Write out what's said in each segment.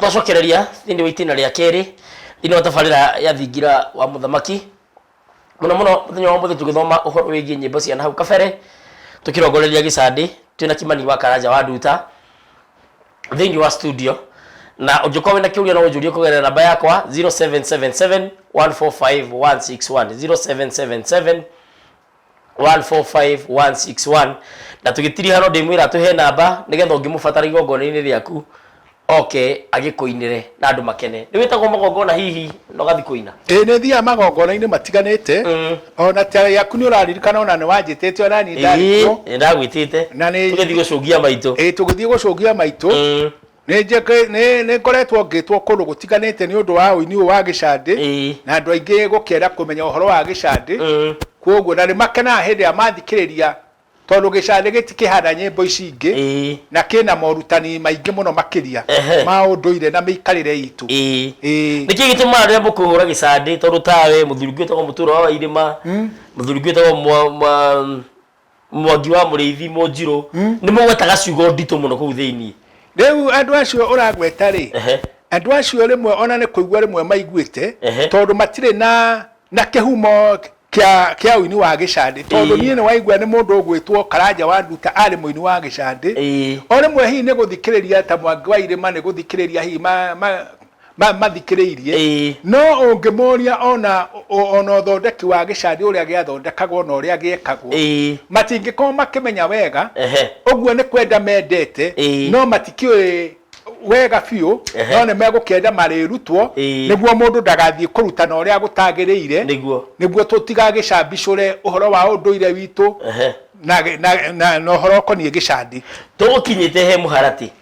tũgacokereria thĩinĩ wa itĩna rĩa kerĩ thĩinĩ wa tabarĩra ya thingira wa mũthamaki mũno mũno mũthenya wa mũthĩ tũgĩthoma ũhoro wĩgiĩ nyĩmbo cia nahau kabere tũkĩrongoreria gĩcandĩ twĩna kimani wa karanja wa nduta thĩinĩ wa studio na ũngĩkorwo wĩna kĩũria no ũnjũrie kũgerera namba yakwa 0777 145 161 0777 145161 na tũgĩtiriha no ndĩmwĩra atũhe namba nĩgetha ũngĩmũbatara igongona-inĩ rĩaku oke agĩkũinĩre na andũ makene nĩ wĩtagwo magongona hihi na ũgathiĩ kũina ĩĩ nĩ thiaga magongona-inĩ matiganĩte Mm. ona ta yaku nĩ ũraririkana ona nĩ wanjĩtĩte ona niĩ ndarĩ kuo nĩ ndagwĩtĩte Na nĩ- tũgĩthiĩ gũcũngia maitũ ĩĩ tũgĩthiĩ gũcũngia maitũ Mm. Nĩ njeke- nĩ- nĩ ngoretwo ngĩtwo kũndũ gũtiganĩte nĩ ũndũ wa ũini ũyũ wa gĩcandĩ Ĩĩ. na andũ aingĩ gũkĩenda kũmenya ũhoro wa gĩcandĩ Mm. kwoguo na nĩ makenaga hĩndĩ ĩrĩa mathikĩrĩria tondũ gĩcandĩ gĩtikĩhana nyĩmbo ici ingĩ Ĩĩ. na kĩna morutani maingĩ mũno makĩria Ehe. ma ũndũire na mĩikarĩre itũ Ĩĩ. Ĩĩ. nä kä gä tä maga rä a må kå hå ra gä candä tondå tawe må thuri gwä tagwo må tura wa irä ma må thuri gwä tagwo mwangi wa mũrĩithi mũnjirũ hmm? nĩ mũgwetaga ciugo nditũ mũno kũu thĩinĩ rĩu andũ acio ũragweta rĩ andũ acio rĩmwe ona nĩ kũigua rĩmwe maiguĩte tondũ matirĩ na na kĩhumo kĩa kĩa ũini wa gĩcandĩ tondũ niĩ nĩ waigua nĩ mũndũ ũgwĩtwo karanja wa nduta arĩ mũini wa gĩcandĩ o rĩmwe hihi nĩ gũthikĩrĩria ta mwangi wa irĩma nĩ gũthikĩrĩria hihi ma- mathikĩrĩirie Ĩĩ. no ũngĩmoria ona o- ona ũthondeki wa gĩcandi ũrĩa gĩathondekagwo na ũrĩa gĩekagwo Ĩĩ. matingĩkorwo makĩmenya wega Ehe. ũguo nĩ kwenda mendete Ĩĩ. no matikĩũĩ wega biũ Ehe. no nĩ megũkĩenda marĩrutwo Ĩĩ. nĩguo mũndũ ndagathiĩ kũrutana ũrĩa gũtagĩrĩire Nĩguo. nĩguo tũtigagĩcambicũre ũhoro wa ũndũire witũ Ehe. na, na, na, na ũhoro ũkoniĩ gĩcandi tũgũkinyĩte he mũharatĩ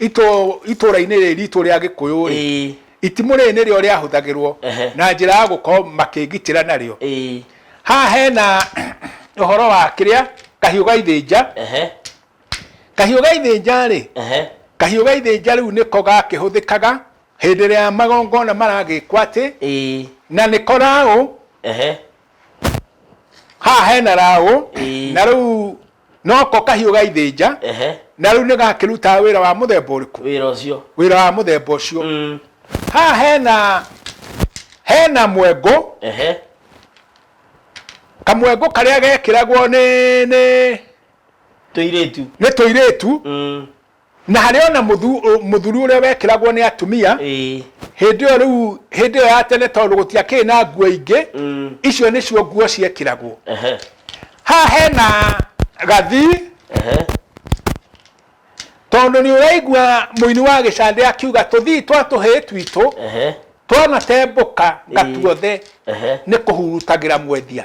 itũ- itũũra-inĩ rĩrĩ ritũ rĩa gĩkũyũ rĩ ĩĩ itimũ rĩrĩ nĩrĩo rĩahũthagĩrwo Ehe. na njĩra ya gũkorwo makĩgitĩra narĩo ĩĩ haha hena ũhoro wa kĩrĩa kahiũ ga ithĩnja ehe kahiũ ga ithĩnja rĩ ehe kahiũ ga ithĩnja rĩu nĩko gakĩhũthĩkaga hĩndĩ ĩrĩa magongona maragĩkwo atĩ ĩĩ na nĩko raũ ehe haha hena raũ Ĩĩ. na rĩu noko kahiũ ga ithĩnja ehe na rĩu nĩ gakĩrutaga wĩra wa mũthemba ũrĩkũ wĩra ũcio wĩra wa mũthemba ũcio Mm, haha hena hena mwengo ehe kamwengo karĩa gekĩragwo nĩ nĩ tũirĩtu nĩ tũirĩtu Mm, Na harĩ ona mũthuri ũrĩa wekĩragwo nĩ atumia hĩndĩ ĩyo rĩu hĩndĩ ĩyo ya tene tondũ gũtiakĩrĩ na nguo ingĩ mm. icio nĩcio nguo ciekĩragwo haha hena gathi tondũ nĩ ũraigua mũini wa gĩcandĩ akiuga tũthii twa tũhĩĩ twitũ twanatembũka gatuothe nĩ kũhurutagĩra mwendia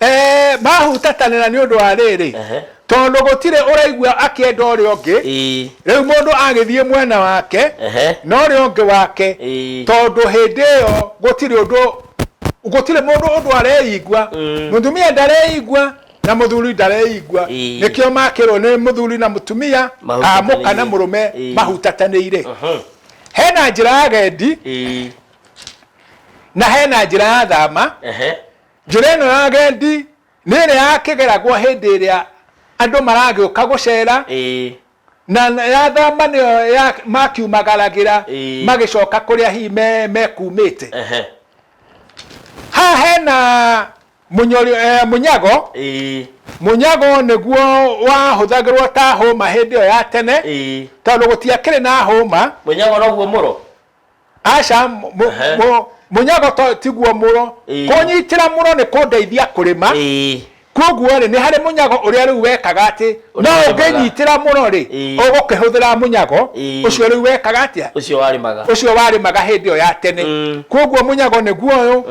Eh, mahutatanĩra nĩ ũndũ wa rĩrĩ Ehe. tondũ gũtirĩ ũraigua akĩenda ũrĩa ũngĩ Ĩĩ. rĩu mũndũ agĩthiĩ mwena wake Ehe. na ũrĩa ũngĩ wake Ĩĩ. tondũ hĩndĩ ĩyo gũtirĩ ũndũ gũtirĩ mũndũ ũndũ areigua Mm. mũtumia ndareigua na mũthuri ndareigua Ĩĩ. nĩkĩo makĩrwo nĩ mũthuri na mũtumia a mũka na Mahutatanĩire. mũrũme Ĩĩ. mahutatanĩire Mhm. hena njĩra ya gendi Ĩĩ. na hena njĩra ya thama Ehe. Njĩra ĩno ya agendi nĩ ĩrĩa ya kĩgeragwo hĩndĩ ĩrĩa andũ maragĩũka gũcera, na ya thama nĩyo ya makiumagaragĩra magĩcoka kũrĩa hihi mekumĩte. Haha hena mũnyago, mũnyago nĩguo wahũthagĩrwo ta hũma hĩndĩ ĩyo ya tene tondũ gũtiakĩrĩ na hũma. Mũnyago noguo mũro? aca mu- mu- Ehe. mu- mũnyagoto tiguo mũro Ĩĩ. kũnyitĩra mũro nĩ kũndeithia kũrĩma Ĩĩ. koguo rĩ nĩ harĩ mũnyago ũrĩa rĩu wekaga atĩ no Ũrĩmaga. ũngĩnyitĩra mũro rĩ Ĩĩ. ũgũkĩhũthĩra mũnyago Ĩĩ. ũcio rĩu wekaga atĩa ũcio warĩmaga ũcio warĩmaga hĩndĩ ĩyo ya tene Mm. koguo mũnyago nĩguo ũyũ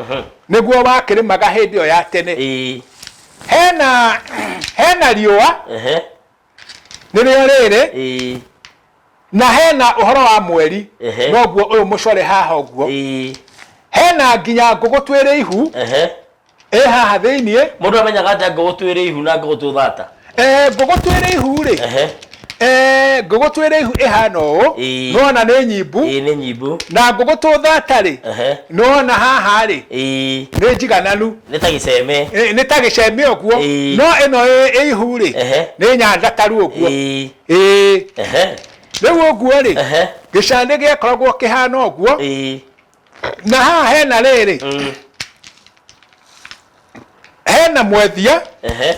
nĩguo wakĩrĩmaga hĩndĩ ĩyo ya tene Ĩĩ. hena hena riũa Ehe. nĩrĩo rĩrĩ ĩĩ na hena ũhoro wa mweri Ehe. noguo ũyũ mũcore haha ũguo ĩĩ hena nginya ngũgũ twĩrĩ ihu ehe ĩ haha thĩiniĩ mũndũ amenyaga atĩa ngũgũ twĩrĩ ihu na ngũgũ twĩthata Eh, ngũgũ twĩrĩ ihu rĩ ehe Eh, ngũgũ twĩrĩ ihu ĩhana ũũ Ĩĩ. nona nĩ nyimbu ĩĩ nĩ nyimbu na ngũgũ tũthata rĩ Ehe. nona haha rĩ ĩĩ nĩ njigananu nĩ ta gĩceme Ĩ, nĩ ta gĩceme ũguo Ĩĩ. no ĩno ĩ- ĩ ihu rĩ Ehe. nĩ nyanjataru ũguo Ĩĩ. Ĩĩ. Ehe. rĩu ũguo rĩ Ehe. gĩcanĩ gĩakoragwo kĩhana ũguo Ĩĩ. na haha hena rĩrĩ Mm. hena mwendia Ehe.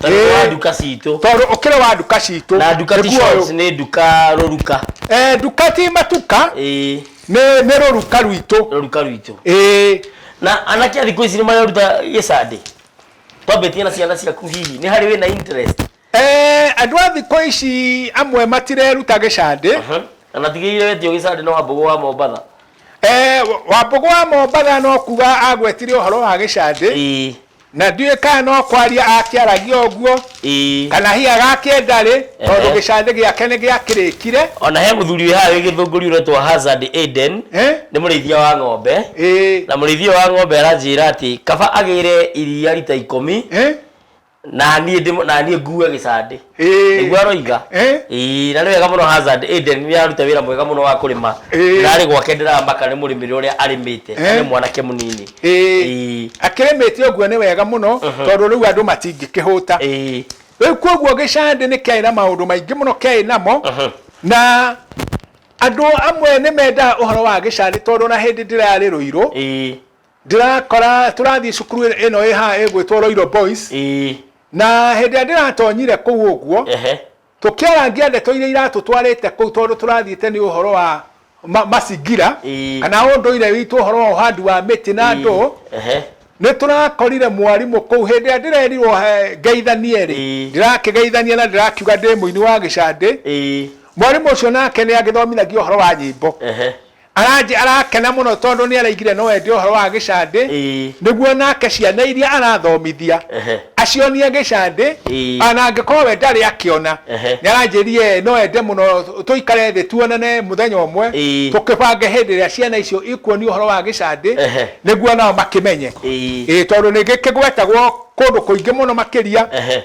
Tondũ nĩ wa Ĩĩ. nduka citũ. tondå å kä rä wa nduka citå Na nduka ti shops, nĩ nduka rũruka. nduka ti matuka Ĩĩ, nä nä rå ruka rwitå rũruka rwitũ. ä Na anake a thikũ ici nĩ mareruta gĩcandĩ. Twambĩtie na ciana ciaku hihi, nĩ harĩ wĩna interest? andå a thikå ici amwe matireruta gä candä Aha. Na natigĩrĩire wetio gĩcandĩ nĩ Wambũgũ wa Mombatha. wambå gå wa mombatha no kuga agwetire å horo wa gä candä Ĩĩ. Na ndiũĩ kana no kwaria akĩaragia ũguo Ĩĩ. kana hihi agakĩndarĩ tondũ Ehe. gĩcanĩ gĩake nĩ gĩakĩrĩkire. Ona he mũthuri wĩ haha wĩ gĩthũngũri ũretwo Hazard Aiden, Eh? nĩ mũrĩithia wa ng'ombe. Ĩĩ. Na mũrĩithia ũyũ wa ng'ombe aranjĩra atĩ kaba agĩre iria rita ikũmi Eh? na niĩ ndĩ- na niĩ ngue gĩcandĩ. nĩguo aroiga na nĩ wega mũno Hazard Eden nĩ araruta wĩra mwega mũno wa kũrĩma ndĩrarĩ gwake ndĩramaka nĩ mũrĩmĩre ũrĩa arĩmĩte nĩ mwanake mũnini akĩrĩmĩte ũguo nĩ wega mũno mhm. tondũ rĩu andũ matingĩkĩhũta rĩu kwoguo gĩcandĩ nĩ kĩarĩ na maũndũ maingĩ mũno kĩarĩ namo mhm. na andå amwe nä mendaga å horo wa gä carä tondå na hä ndä ndä rarä rå irå Ndĩrakora tũrathiĩ cukuru ĩ- ĩno ĩ haha ĩgwĩtwo Roiro Boys ĩĩ na hĩndĩ ĩrĩa ndĩratonyire kũu ũguo ehe tũkĩarangia ndeto iria iratũtwarĩte kũu tondũ tũrathiĩte nĩ ũhoro wa ma- macingira Ĩĩ. kana ũndũire witũ ũhoro wa ũhandi wa mĩtĩ na ndũũ ehe nĩ tũrakorire mwarimũ kũu hĩndĩ ĩrĩa ndĩrerirwo he- ngeithanie rĩ Ĩĩ. ndĩrakĩgeithania na ndĩrakiuga ndĩ mũini wa gĩcandĩ ĩĩ mwarimũ ũcio nake nĩ agĩthomithagia ũhoro wa nyĩmbo ehe Aranjĩ arakena mũno tondũ nĩaraigire no ende ũhoro wa gĩcandĩ Ĩĩ. nĩguo onake ciana iria arathomithia Ehe. acionie gĩcandĩ Ĩĩ. o na angĩkorwo we ndarĩ akĩona. Ehe. Nĩaranjĩrire no ende mũno tũikare thĩ tuonane mũthenya ũmwe Ĩĩ. tũkĩbange hĩndĩ ĩrĩa ciana icio ikuonio ũhoro wa gĩcandĩ Ehe. nĩguo nao makĩmenye. Ĩĩ. Ĩĩ tondũ nĩgĩkĩgwetagwo kũndũ kũingĩ mũno makĩria Ehe.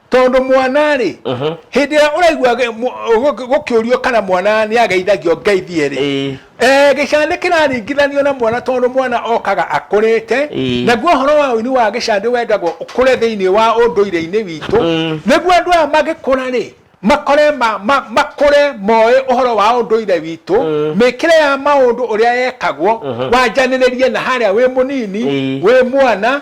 tondũ mwana-rĩ Mhm. hĩndĩ ĩrĩa ũraigua ge- mu- gũ- gũkĩũrio kana mwana nĩ ageithagio ngeithie-rĩ Ĩĩ. Eh, gĩcandĩ kĩraringithanio na mwana tondũ mwana okaga akũrĩte Ĩĩ. naguo ũhoro wa ũini wa gĩcandĩ wendagwo ũkũre thĩinĩ wa ũndũire-inĩ witũ Mm. nĩguo andũ aya magĩkũra-rĩ makore ma, ma, makũre moĩ ũhoro wa ũndũire witũ Mm. mĩkĩre ya maũndũ ũrĩa yekagwo Mhm. wanjanĩrĩrie na harĩa wĩ mũnini Ĩĩ. wĩ mwana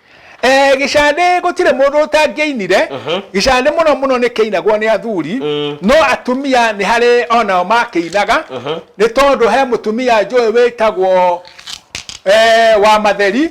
Eh, gĩcandĩ gũtirĩ mũndũ ũtangĩainire gĩcandĩ mũno mũno nĩ kĩinagwo nĩ athuri no atumia nĩ harĩ onao makĩinaga nĩ tondũ he mũtumia njũĩ wĩtagwo eh, wa matheri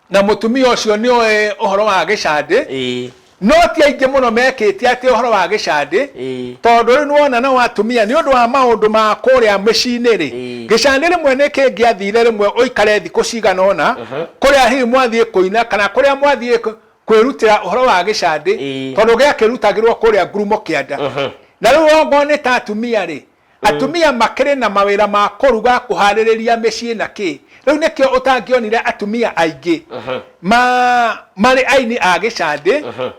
na mũtumia ũcio nĩ ũĩ ũhoro wa gĩcandĩ Ĩĩ. No ti aingĩ mũno mekĩtie atĩ ũhoro wa gĩcandĩ Ĩĩ. tondũ rĩu nĩwona nao atumia nĩ ũndũ wa maũndũ ma kũrĩa mĩciĩ-inĩ rĩ, Ĩĩ. gĩcandĩ rĩmwe nĩ kĩngĩathire rĩmwe ũikare thikũ cigana ũna kũrĩa hihi mwathiĩ kũina kana kũrĩa mwathiĩ kũ- kwĩrutĩra ũhoro wa gĩcandĩ Ĩĩ. tondũ gĩakĩrutagĩrwo kũrĩa ngurumo kĩanda. Na rĩu okorwo nĩ ta atumia rĩ, Atumia makĩrĩ na mawĩra ma kũruga, kũharĩrĩria mĩciĩ na kĩ. Rĩu nĩkĩo ũtangĩonire atumia aingĩ ma marĩ aini a gĩcandĩ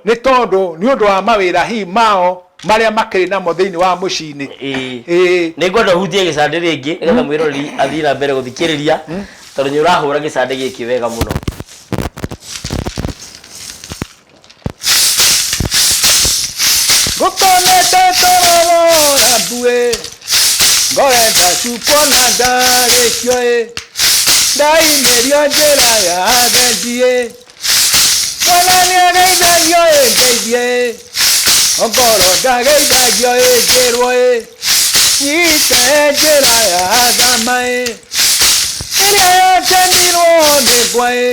nĩ tondũ nĩ ũndũ wa mawĩra hi mao marĩa makĩrĩ namo thĩinĩ wa mũciĩ-inĩ. Ĩĩ. Nĩ ngwenda ũhutie gĩcandĩ rĩngĩ nĩ getha mwĩroreri athiĩ na mbere gũthikĩrĩria tondũ nĩ ũrahũra gĩcandĩ gĩkĩ wega mũno. ngũkonete toro wora mbuĩ ngorenda cukuona ndarĩkio ĩ ndaimĩrio njĩra ya agendi ĩ mwana nĩageithagio ĩ ngeithie ĩ ongoro ndageithagio ĩ njĩrwo ĩ nyite njĩra ya thama ĩ ĩrĩa yakenirwo nĩ ngwa ĩ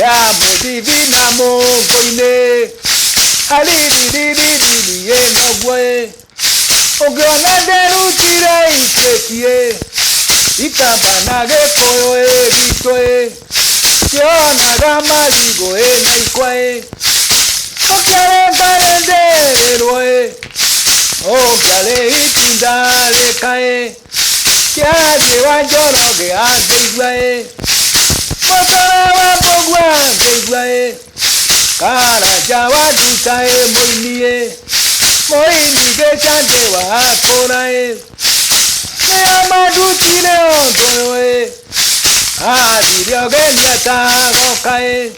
ya mũthithi na mũngo-inĩ aririririririĩ noguo ĩ ũngĩona nderutire ituĩtie ikamba na gĩkũyũ ĩ gitũ ĩ kĩonaga marigũ ĩ na ikwa ĩ ũkĩarengarendĩrĩrwo ĩ ũngĩarĩ itinda rĩka ĩ Kĩanjĩ wa Njoroge angĩigua ĩ, Mũtara wa Mbũgua angĩigua ĩ, Karanja wa Nduta ĩ mũini ĩ, Mũini Gĩcanjĩ wa Akũra ĩ, Nĩo mandutire ũndũ ũyũ ĩ, Athire ũgeni atagoka ĩ,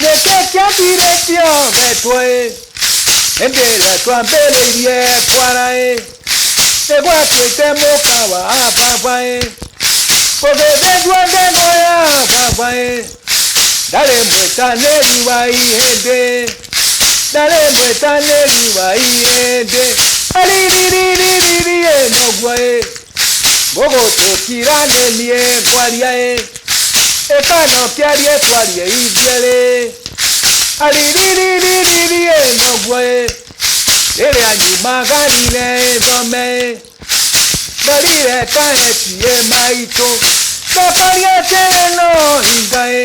nĩkĩ kĩambirĩtio wetwo ĩ hĩndĩ ĩrĩa twambĩrĩirie kwara ĩ nĩ gwatuĩte mũka wa baba ĩ gũgĩthĩnjwo ngeno ya baba ĩ ndarĩ mwĩtanĩri wa ihĩndĩ ndarĩ mwĩtanĩri wa ihĩndĩ aririririririe noguo ĩ gũgũtũkira nĩ niĩ ngwaria ĩ ĩkano kĩarie twarie ithuĩ rĩ aririririri ĩ noguo ĩ rĩrĩa nyumagarire ĩthome ĩ ndarire kaetie maitũ ndokaria atĩrĩ no hinga ĩ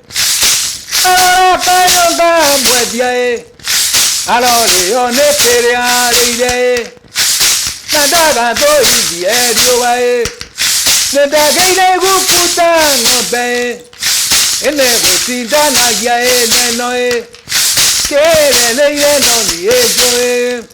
arabanyonda mwendia ĩ arorĩo nĩ kĩrĩa arĩire ĩ na ndagathũithie riũa ĩ nĩ ndagĩire gukuta ng'ombe ĩ ĩnĩ gũcindanagia ĩ neno ĩ kĩreneire no niĩ njũĩ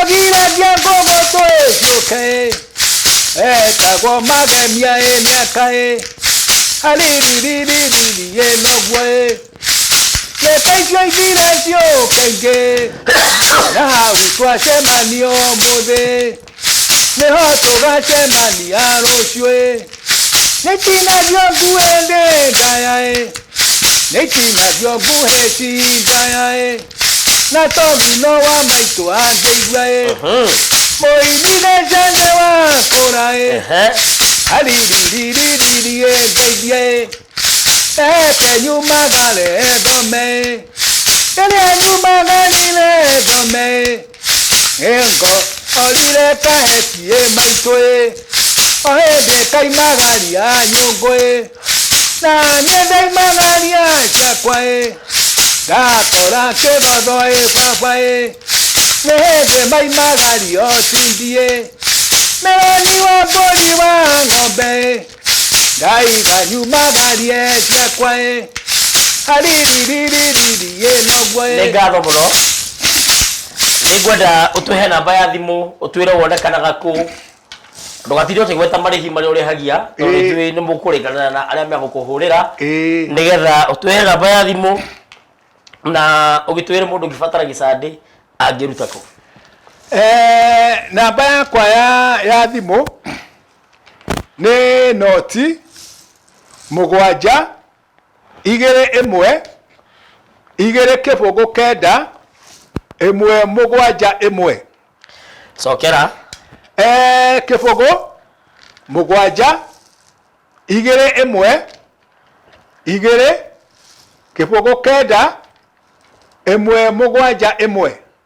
agiragia ngogo twĩciũke etagwo magemia ĩ mĩaka ĩ aririririri ĩ noguo ĩ reke icio ithire ciũke ingĩ na hau twacemanio mũthĩ nĩho tũgacemania rũciũ ĩ nĩ itinagio nguĩ ndĩ ndaya ĩ nĩ itinagio nguhĩ ti ndaya ĩ na togino wa maitũ angĩigua ĩ mũini nĩ njende wa kũra ĩ Ehe. ariririririri ĩ ndeithia ĩ eke nyumagare thome ĩ rĩrĩa nyumagarire thome ĩ Engo orire kahetie maitũ ĩ o hĩndĩ kaimagaria nyũngũ ĩ na niĩ ndaimagaria ciakwa ĩ ndakora kĩgotho ĩ baba ĩ nĩ hĩndĩ maimagario tindi ĩ meroni wa mbũri wa ng'ombe ĩ ndaiga nyuma garie ciakwa ĩ aririririririri ĩ nogwo nĩ ĩ ngatho mũno nĩ ngwenda ũtũhe namba ya thimũ ũtwĩre wonekanaga kũ ndũgatinde ũkĩgweta marĩhi marĩa ũrĩhagia tondũ Ĩĩ. ithuĩ nĩ mũkũrĩkanĩra na arĩa megũkũhũrĩra Ĩĩ. nĩgetha ũtwĩre namba ya thimũ na ũgĩtwĩre mũndũ ũngĩbatara gĩcandĩ angĩruta kũ Eh, namba yakwa ya ya thimũ nĩ noti mũgwanja, igĩrĩ ĩmwe, igĩrĩ kĩbũgũ kenda, ĩmwe mũgwanja ĩmwe. Cokera. Ee, kĩbũgũ mũgwanja, igĩrĩ ĩmwe, igĩrĩ kĩbũgũ kenda, ĩmwe mũgwanja ĩmwe.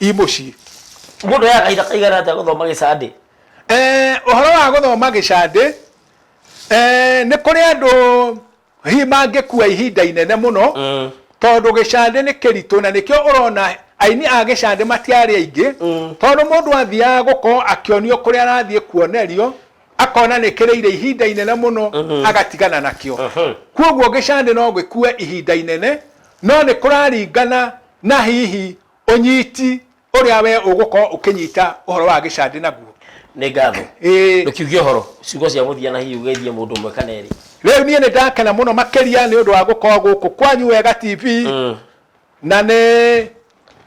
i mũciĩ Mũndũ oyaga kahinda kaigana atĩa gũthoma gĩcandĩ? Eh, ũhoro wa gũthoma gĩcandĩ eh, nĩ kũrĩ andũ hihi mangĩkua ihinda inene mũno Mm. tondũ gĩcandĩ nĩ kĩritũ na nĩkĩo ũrona aini a gĩcandĩ matiarĩ aingĩ Mm. tondũ mũndũ athiaga gũkorwo akĩonio kũrĩa arathiĩ kuonerio akona nĩ kĩrĩire ihinda inene mũno agatigana nakĩo Mhm. kwoguo gĩcandĩ no gĩkue ihinda inene no nĩ kũraringana na hihi ũnyiti ũrĩa we ũgũkorwo ũkĩnyita ũhoro wa gĩcandĩ naguo nĩ ngatho Ĩĩ. ndũkiuge ũhoro ciugo cia mũthia na hihi ũgeithie mũndũ ũmwe kana erĩ rĩu niĩ nĩ ndakena mũno makĩria nĩ ũndũ wa gũkorwo gũkũ kwanyu wega tv Mm. na nĩ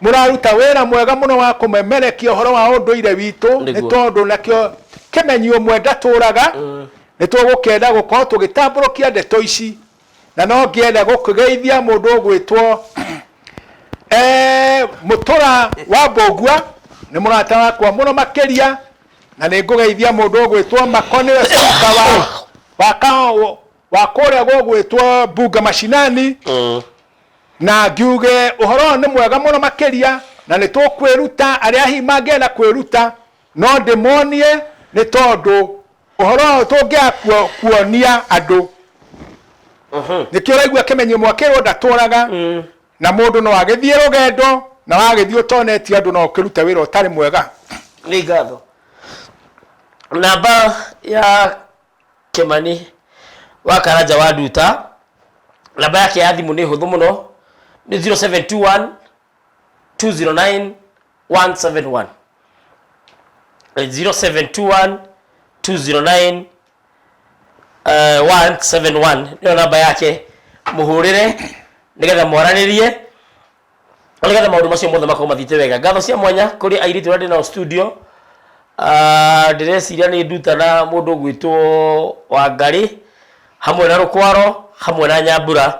mũraruta wĩra mwega mũno wa kũmemerekia ũhoro wa ũndũire witũ nĩ Nĩguo. tondũ nakĩo kĩmenyi ũmwe ndatũraga nĩ tũgũkenda gũkorwo tũgĩtambũrũkia ndeto ici na no ngĩenda gũkĩgeithia mũndũ ũgwĩtwo eh, mũtũra wa mbũngua nĩ mũrata wakwa mũno makĩria na nĩ ngũgeithia mũndũ ũgwĩtwo mako nĩwe spika wa wa ka- wa kũrĩa gũgwĩtwo mbunga macinani Mm. na ngiuge ũhoro ũyũ nĩ mwega mũno makĩria na nĩ tũkwĩruta arĩa hihi mangĩenda kwĩruta no ndĩmonie nĩ tondũ ũhoro ũyũ tũngĩaga kuo- kuonia andũ nĩkĩo ũraigua kĩmenyi ũmwe akĩrwo ndatũraga na mũndũ no agĩthiĩ rũgendo na wagĩthiĩ ũtonetie andũ no ũkĩrute wĩra ũtarĩ mwega nĩ ngatho namba ya kĩmani wa karanja wa nduta namba yake ya thimũ nĩ hũthũ mũno nĩ 0721 209 171 Eh, 0721 209 eh, 171 nĩyo namba yake mũhũrĩre nĩgetha mwaranĩrie na nĩgetha maũndũ macio mothe makorwo mathiĩte wega ngatho cia mwanya kũrĩ airĩtu arĩa ndĩ nao studio Ah, ndĩreciria nĩ nduta na mũndũ ũgwĩtwo wangarĩ hamwe na rũkwaro hamwe na nyambura